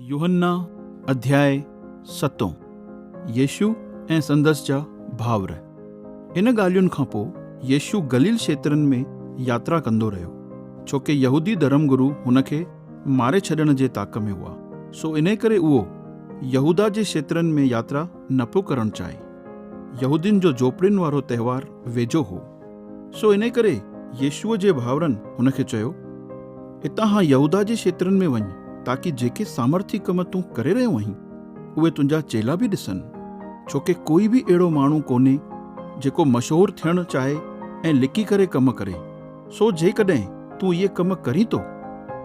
يوحنا اڌياء ستون، يسوع ۽ سندس جا ڀائر. ان ڳالهين کان پوء يسوع گليل کيترن ۾ ياترا ڪندو رهيو، ڇو ڪي يهودي ڌرم گرو هن کي ماري ڇڏڻ جي تاڪ ۾ هئا، سو انهي ڪري اهو يهوداه جي کيترن ۾ ياترا نه پيو ڪرڻ چاهي. يهودين جو جهوپڙين وارو تهوار ويجهو هو. سو انهيء ڪري يسوع جي ڀائرن هن کي چيو، اتان هان يهوداه جي کيترن ۾ وڃ، تاڪي جيڪي سامرٿي ڪم تون ڪري رهيو آهين، اهي تنهنجا چيلا به ڏسن. ڇو ڪي ڪوئي به اهڙو ماڻهو ڪونهي، جيڪو مشهور ٿيڻ چاهي ۽ لڪي ڪري ڪم ڪري. سو جيڪڏهن تون اهي ڪم ڪرين ٿو،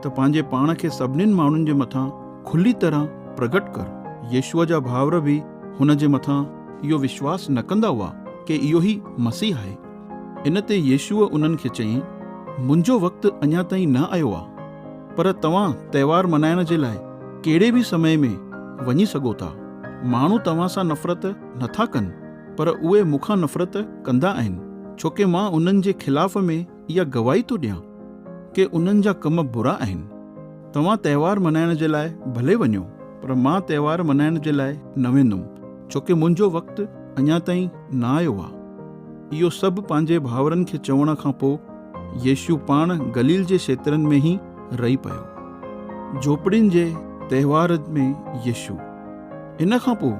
ته پنهنجي پاڻ کي سڀنين ماڻهن جي مٿان کلي طرح پرگهٽ ڪر. يسوع جا ڀائر به هن جي مٿان اهو وشواس نه ڪندا هئا ڪي اهو ئي مسيح آهي. ان تي يسوع انهن کي چيائين، منهنجو وقت اڃا تائين نه آيو آهي، پر توهان تهوار ملهائڻ جي لاء ڪهڙي به سمي ۾ وڃي سگهو ٿا. ماڻهو توهان سان نفرت نه ٿا ڪن، پر اهي مون کان نفرت ڪندا آهن، ڇوڪه مان انهن جي خلاف ۾ اها گواهي ٿو ڏيان ڪي انهن جا ڪم برا آهن. توهان تهوار منائڻ جي لاء ڀلي وڃو پر مان تهوار منائڻ جي لاء نه ويندم ڇو ڪي منهنجو وقت اڃا تائين نه آيو آ. اهو سڀ پنهنجي ڀائورن کي چوڻ کان پو يسوع پاڻ گليل جي شيترن ۾ هي رهي پيو. جهوپڙين جي تهوار ۾ يسوع. ان کان پو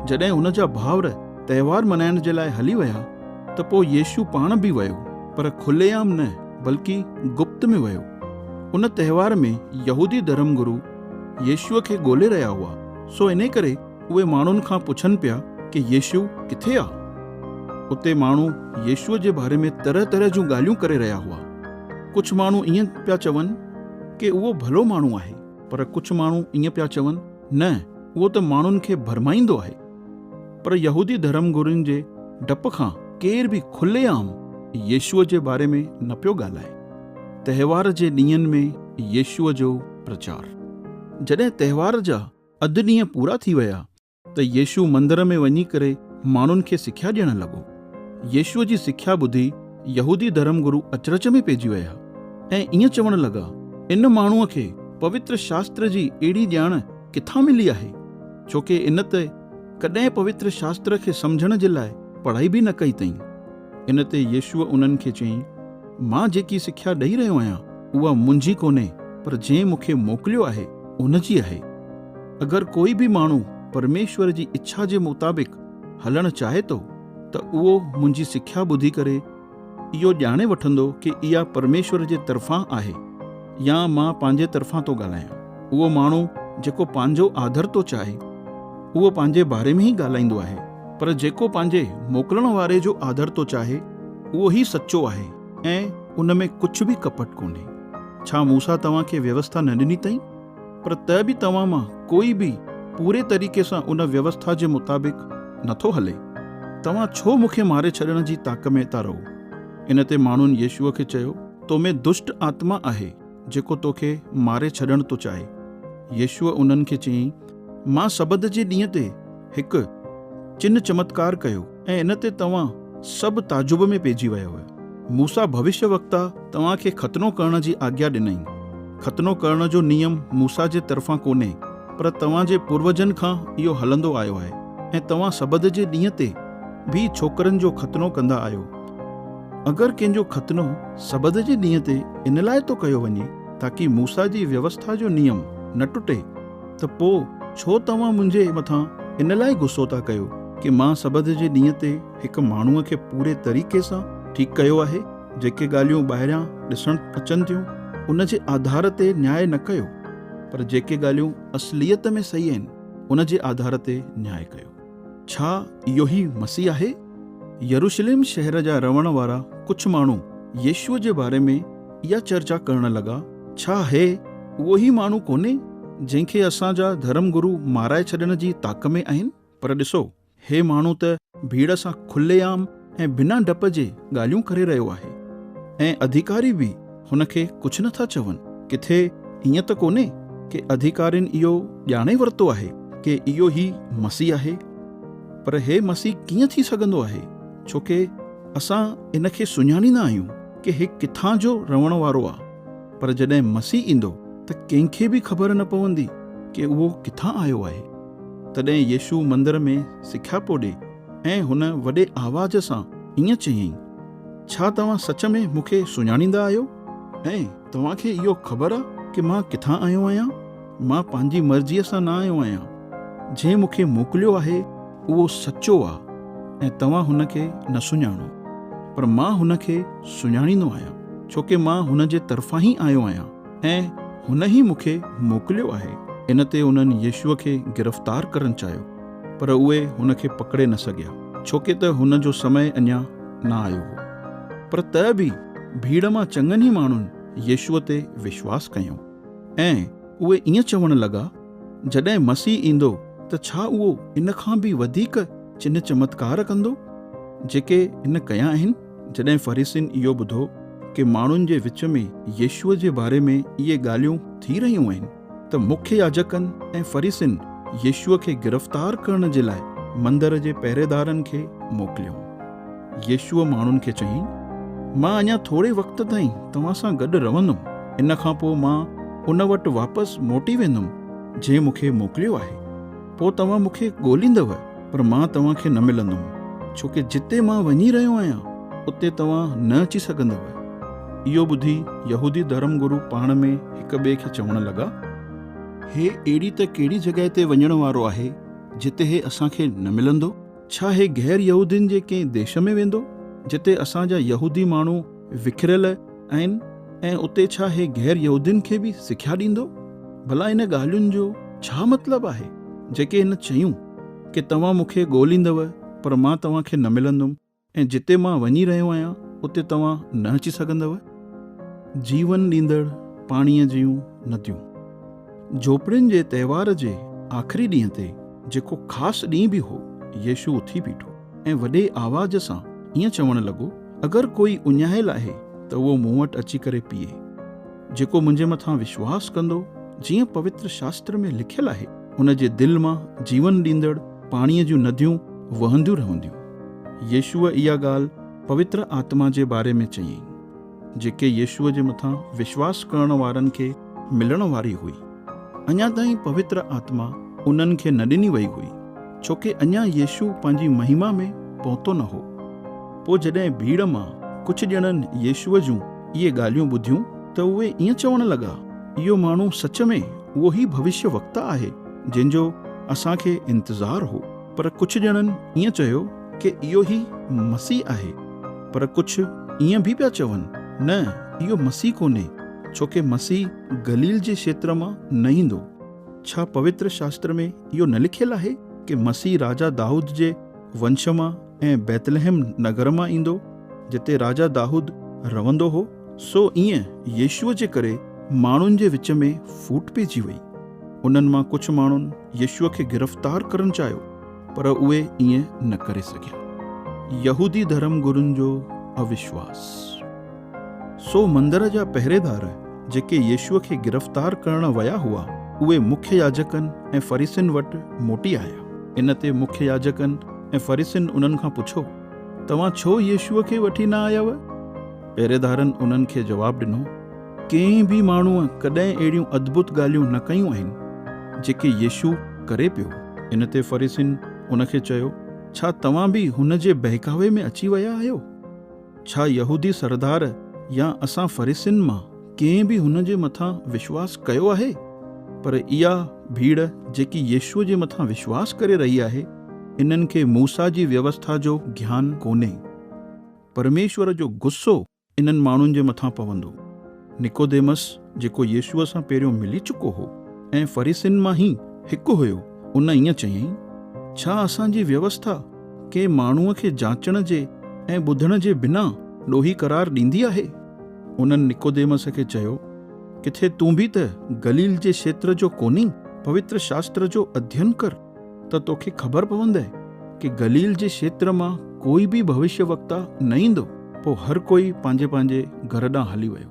جڏهن هن جا ڀائور تهوار منائڻ جي لاء هلي ويا. ته پوء يسوع پاڻ به ويو، پر کلي عام نه، بلڪ گپت ۾ ويو. ان تهوار ۾ يهودي ڌرم گرو يسوع کي ڳولي رهيا هئا، سو انهي ڪري اهي ماڻهن کان پڇن پيا ڪي يسوع ڪٿي آ؟ اتي ماڻهو يسوع جي باري ۾ طرح طرح جون ڳالهيون ڪري رهيا هئا. ڪجهه ماڻهو ائين پيا چون ڪي اهو ڀلو ماڻهو آهي. پر ڪجهه ماڻهو ائين پيا چون. نه، اهو ته ماڻهن کي ڀرمائيندو آهي، پر يهودي ڌرم گرين جي ڊپ کان ڪير به کلي عام يسوع جي باري ۾ نه پيو ڳالهائي. تهوار جي ڏينهن ۾ يسوع جو پرچار. جڏهن تهوار جا اڌ ڏينهن پورا ٿي ويا ته يسوع مندر ۾ وڃي ڪري ماڻهن کي سکيا ڏيڻ لڳو. يسوع جي سکيا ٻڌي يهودي ڌرم گرو اچرج ۾ پئجي ويا ۽ ائين چوڻ لڳا، ان ماڻهوء کي پوتر شاستر جي اهڙي ڄاڻ ڪٿان ملي آهي؟ ڇوڪه ان ته ڪڏهن پوتر شاستر کي سمجهڻ جي لاء پڙهائي به نه ڪئي تئين. ان تي يسوع انهن کي چيائين، مان جيڪي سکيا ڏئي رهيو آهيان، اها منهنجي ڪونهي، پر جنهن مون کي موڪليو آهي، ان جي آهي. اگر ڪوئي به ماڻهو پرميشور جي اڇا جي مطابق هلڻ چاهي ٿو ته اهو منهنجي سکيا ٻڌي ڪري اهو ڄاڻي وٺندو ڪي اها پرميشور جي طرفان آهي يا مان پنهنجي طرفان ٿو ڳالهايان. اهو ماڻهو جيڪو پنهنجو آڌر ٿو چاهي اهو پنهنجي باري ۾ ئي ڳالهائيندو آهي پر جيڪو پنهنجي موڪلڻ واري جو آڌر ٿو چاهي اهو ئي سچو آهي ۽ ان ۾ ڪجهه به ڪپٽ ڪونهي. ڇا موسيٰ توهان کي ويوسٿا نه ڏني تئين؟ پر ته به توهان مان ڪوئي به پوري طريقي سان ان ويوسٿا جي مطابق نٿو هلي. توهان ڇو مون کي ماري ڇڏڻ جي تاڪ ۾ ٿا رهو؟ ان تي ماڻهن يسوع کي چيو، تو ۾ دشٽ آتما آهي، جيڪو تو کي ماري ڇڏڻ ٿو چاهي. يسوع انهن کي چيائين، مان سبت جي ڏينهن تي هڪ چنهه چمتڪار ڪيو. ۽ ان تي توهان سڀ تعجب ۾ پئجي ويا هئا. موسيٰ ڀوشيٰ وڪتا توهان کي ختنو ڪرڻ جي آگيا ڏنائين. ختنو ڪرڻ جو نيم موسيٰ جي طرفان ڪونهي، پر توهان جي پوروجن کان اهو هلندو آيو آهي ۽ توهان سبت جي ڏينهن تي به ڇوڪرن جو ختنو ڪندا آهيو. اگر ڪنهن جو ختنو سبت جي ڏينهن تي ان لاء ٿو ڪيو وڃي، تاڪي موسيٰ جي ويوسٿا جو نيم نه ٽٽي. ته پوء ڇو توهان منهنجي مٿان ان لاء غصو ٿا ڪيو ڪي مان سبت جي ڏينهن تي هڪ ماڻهوء کي پوري طريقي سان ٺيڪ ڪيو آهي؟ جيڪي ڳالهيون ٻاهريان ڏسڻ اچن ٿيون، ان جي آڌار تي نياء نه ڪيو، پر جيڪي ڳالهيون اصليت ۾ صحيح آهن، ان جي آڌار تي نياء ڪيو. ڇا اهو ئي مسيح آهي؟ يروشليم شهر جا رهڻ وارا ڪجهه ماڻهو يسوع جي باري ۾ اها چرچا ڪرڻ لڳا، ڇا هي اهو ئي ماڻهو ڪونهي جنهن کي اسان جا ڌرم گرو مارائي ڇڏڻ جي طاق ۾ آهن؟ پر ڏسو، هي ماڻهو ته ڀيڙ سان کلي عام ۽ بنا ڊپ جي ڳالهيون ڪري رهيو آهي ۽ اڌيڪاري به هن کي ڪجهه نه ٿا چون، ڪٿي ائين ته ڪونهي ڪي اڌيڪارين اهو ڄاڻي ورتو آهي ڪي اهو ئي مسيح آهي؟ پر هي مسيح ڪيئن ٿي سگهندو آهي ڇو ڪي اسان ان کي سڃاڻيندا آهيون ڪي هي ڪٿان جو رهڻ وارو آ پر جڏهن مسيح ايندو ته ڪنهن کي به خبر نه پوندي ڪي اهو ڪٿان آيو آهي؟ تڏهن يسوع مندر ۾ سکيا پو ڏي. ۽ هن وڏي آواز سان ائين چيائين، ڇا توهان سچ ۾ مون کي سڃاڻيندا آهيو؟ ۽ توهان کي اهو خبر آ ڪه مان ڪٿان آيو آهيان؟ مان پنهنجي مرضيء سان نه آيو آهيان. جنهن مون کي موڪليو آهي، اهو سچو آ ۽ توهان هن کي نه سڃاڻو. پر مان هن کي سڃاڻيندو آهيان، ڇو ڪه مان هن جي طرفان ئي آيو آهيان ۽ هن ئي مون کي موڪليو آهي. ان تي انهن يسوع کي گرفتار ڪرڻ چاهيو. پر اهي هن کي پڪڙي نه سگهيا، ڇوڪه ته هن جو سمي اڃا نه آيو هو. پر ته به ڀيڙ مان چڱن ئي ماڻهن يسوع تي وشواس ڪيو ۽ اهي ائين چوڻ لڳا، جڏهن مسيح ايندو ته ڇا اهو ان کان به وڌيڪ چنه چمتڪار ڪندو، جيڪي هن ڪيا آهن؟ جڏهن فريسين اهو ٻڌو ڪي ماڻهن جي وچ ۾ يسوع جي باري ۾ اهي ڳالهيون ٿي رهيون آهن، ته مکيه ياجڪن ۽ فريسين يسوع کي گرفتار ڪرڻ جي لاء مندر جي پهريدارن کي موڪليو. يسوع ماڻهن کي چيائين، مان اڃا ٿوري وقت تائين توهان سان گڏ رهندم، ان کان پوء مان ان وٽ واپس موٽي ويندم جنهن مون کي موڪليو آهي. پوء توهان مون کي ڳوليندؤ، پر مان توهان کي نه ملندم، ڇو ڪي جتي مان وڃي رهيو آهيان، اتي توهان نه اچي سگهندؤ. اهو ٻڌي يهودي ڌرم گرو پاڻ ۾ هڪ ٻئي کي چوڻ لڳا. هي اهڙي ته ڪهڙي جڳهه تي وڃڻ وارو آهي، جتي هي اسان کي نه ملندو؟ ڇا هي غير يهودين جي ڪنهن ديش ۾ ويندو، جتي اسان جا يهودي ماڻهو وکريل آهن ۽ اتي ڇا هي غير يهودين کي به سکيا ڏيندو؟ ڀلا ان ڳالهين جو ڇا مطلب آهي، جيڪي هن چيون، ڪي توهان مون کي ڳوليندؤ، پر مان توهان کي نه ملندم ۽ جتي مان وڃي رهيو آهيان، اتي توهان نه اچي سگهندؤ؟ جيون ڏيندڙ پاڻيء جون نديون. جهوپڙين جي تهوار جي آخري ڏينهن تي، جيڪو خاص ڏينهن به هو، يسوع اٿي بيٺو ۽ وڏي آواز سان ائين چوڻ لڳو، اگر ڪوئي اڃايل آهي ته اهو مون وٽ اچي ڪري پيئي. جيڪو منهنجي مٿان وشواس ڪندو، جيئن پوتر شاستر ۾ لکيل آهي، ان جي دل مان جيون ڏيندڙ پاڻيء جون نديون وهنديون رهنديون. يسوع اها ڳالهه پوتر آتما جي باري ۾ چيائين. جيڪي يسوع جي مٿان وشواس ڪرڻ وارن کي ملڻ واري هئي، اڃا تائين پوتر آتما انهن کي نه ڏني وئي هئي، ڇوڪه اڃا يسوع پنهنجي مهما ۾ پهتو نه هو. پوء جڏهن ڀيڙ مان ڪجهه ڄڻن يسوع جون اهي ڳالهيون ٻڌيون، ته اهي ائين چوڻ لڳا، اهو ماڻهو سچ ۾ اهو ئي ڀوشيه وڪتا آهي، جنهن جو اسان کي انتظار هو. پر ڪجهه ڄڻن ائين چيو ڪي اهو ئي مسيح آهي، پر ڪجهه ائين به پيا چون، نه اهو مسيح ڪونهي، ڇو ڪي مسيح گليل جي کيتر مان نه ايندو. ڇا پوتر شاستر ۾ اهو نه لکيل آهي ڪي مسيح راجا دائود جي ونش مان ۽ بيتلحم نگر مان ايندو، جتي راجا دائود رهندو هو. سو ائين يسوع جي ڪري ماڻهن جي وچ ۾ ڦوٽ پئجي وئي. انهن مان ڪجهه ماڻهن يسوع کي گرفتار ڪرڻ چاهيو، پر اهي ائين نه ڪري سگهيا. يهودي ڌرم گرن جو اوشواس. سو مندر جا پهريدار جيڪي يسوع کي گرفتار ڪرڻ ويا هئا، اهي مکيه ياجڪن ۽ فريسين وٽ موٽي آيا. ان تي مکيه ياجڪن ۽ فريسين انهن کان پڇيو، توهان ڇو يسوع کي وٺي نه آياوء؟ پهريدارن انهن کي جواب ڏنو، ڪنهن به ماڻهوء ڪڏهن اهڙيون ادڀت ڳالهيون نه ڪيون آهن، جيڪي يسوع ڪري پيو. ان تي فريسين ان کي چيو، ڇا توهان به هن جي بهڪاوي ۾ اچي ويا آهيو؟ ڇا يهودي سردار يا اسان فريسين مان ڪنهن به هن جي مٿان وشواس ڪيو آهي؟ پر اها ڀيڙ جيڪي يسوع جي مٿان وشواس ڪري رهي آهي، انهن کي موسيٰ جي ويوسٿا جو گيان ڪونهي. پرميشور جو غصو انهن ماڻهن جي مٿان پوندو. نڪوديمس، جيڪو يسوع سان پهريون ملي چڪو هو ۽ فريسين مان ئي هڪ هيو، ان ائين چيائين، ڇا اسان جي ويوسٿا ڪنهن ماڻهوء کي جاچڻ جي ۽ ٻڌڻ جي بنا ڏوهي قرار ڏيندي آهي؟ انهن نڪوديمس کي چيو، ڪٿي تون به ته گليل جي کيتر جو ڪونهين؟ پوتر شاستر جو اڌين ڪر. ته توکي خبر پوندئي ڪي گليل جي شيتر مان ڪوئي به ڀوشيوڪتا نه ايندو. پوء هر ڪوئي پنهنجي پنهنجي گهر ڏانهن هلي ويو.